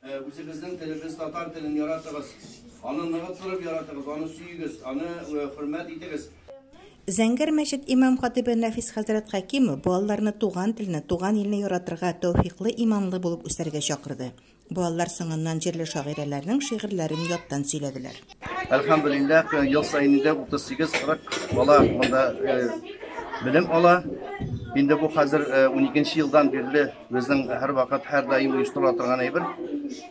Үзебезнең телебез татар телен яратыгыз, аны ныгып торып яратыгыз, аны сөегез, аны хөрмәт итегез. Зәңгәр мәчет имам-хатыйбы Нәфис хәзрәт Хәкимов балаларны туган телне, туган илне яратырга, тәүфиклы, иманлы булып үсәргә чакырды. Балалар соңыннан җирле шагыйрәләрнең шигырьләрен яттан сөйләделәр. Әлхәмдүлилләһ, ел саен инде 38-40 бала монда белем ала. Инде бу хәзер уникенче елдан бирле Безнең һәрвакыт, һәрдаим оештырыла торган әйбер.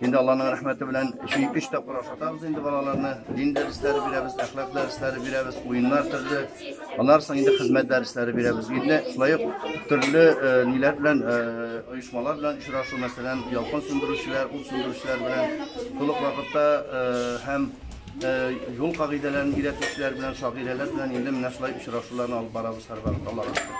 Инде Алланың рәхмәте белән өч тапкыр ашатабыз инде балаларны. Дин дәресләре бирәбез, әхлак дәресләре бирәбез, уеннар төрле. Аннан соң инде хезмәт дәресләре бирәбез. Инде шулай ук төрле э, ниләр белән э, оешмалар белән очрашу, мәсәлән, ялкын сүндерүчеләр, ут сүндерүчеләр белән тулык вакытта э, һәм юл кагыйдәләрен өйрәтүчеләр белән, шагыйрәләр белән инде менә шулай очрашуларны алып барабыз һәрвакыт Аллага шөкер.